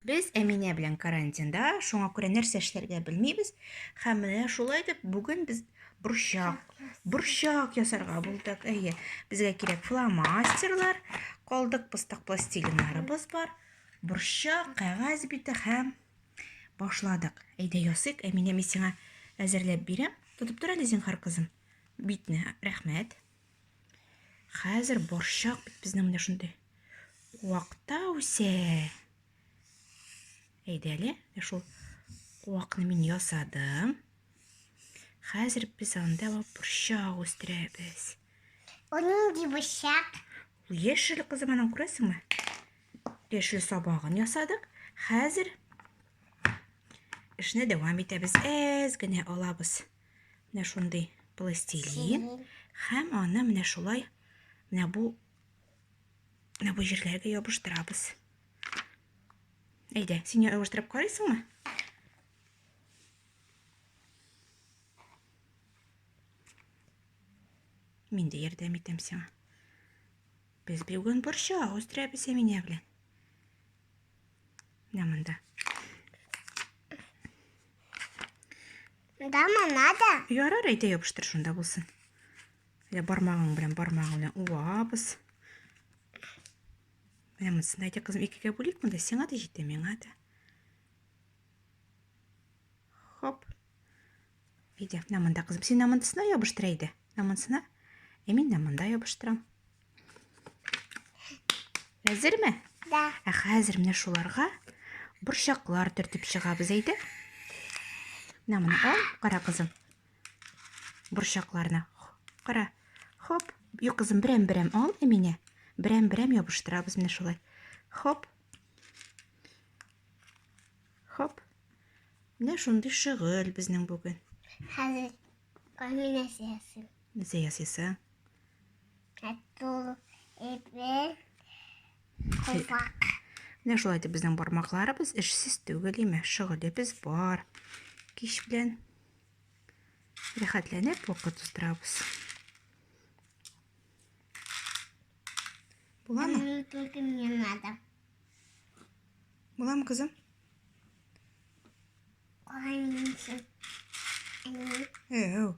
Без Әминә белән карантинда, шуңа күрә нәрсә эшләргә белмибез. Һәм менә шулай итеп бүген без борчак, борчак ясарга булдык. Әйе, безгә кирәк фломастерлар, калдык пыстак пластилиннарыбыз бар, борчак, кәгазь бите һәм башладык. Әйдә ясыйк, Әминә, мин сиңа әзерләп бирәм. Тотып тор әле зинһар, кызым. Битне, рәхмәт. Хәзер борчак бит безнең менә шундый. Куакта үсә. Әйдә әле, шул куакны мин ясадым. Хәзер без анда борчак үстерәбез. Ул нинди борчак? Ул яшел кызым, анан күрәсеңме? Яшел сабагын ясадык. Хәзер эшне дәвам итәбез. Әз генә алабыз. Э, менә шундый пластилин һәм аны менә шулай менә бу менә бу җирләргә ябыштырабыз әйдә син ябыштырып карыйсыңмы мин дә ярдәм итәм сиңа без бүген борчак үстерәбез әминә белән менә монда Дама надо? Ярар, әйтә ябыштыр шунда булсын. Менә бармагың белән, бармагың белән уабыз. Менә монысын әйтә кызым, икегә бүлик монда, сиңа да җитә, миңа да. Хоп. Әйдә, менә монда кызым, син намындысына ябыштыр әйдә. Намындысына. Ә мин намында ябыштырам. Әзерме? Да. Ә хәзер менә шуларга борчаклар төртеп чыгабыз әйдә. Менә моны ал, кара кызым. Борчакларны. Кара. Хоп. Юк, кызым, берәм-берәм ал, Әминә. Берәм-берәм ябыштырабыз менә шулай. Хоп. Хоп. Менә шундый шөгыль безнең бүген. Хәзер Әминә сәясен. Нәрсә ясыйсың? Катул ипе кулпак. Менә шулай итеп безнең бармакларыбыз эшсез түгел, име, шөгылебез бар. Кич белән рәхәтләнеп вакыт уздырабыз. Буламы? Только мне надо. Буламы, кызым? Ой, Әу.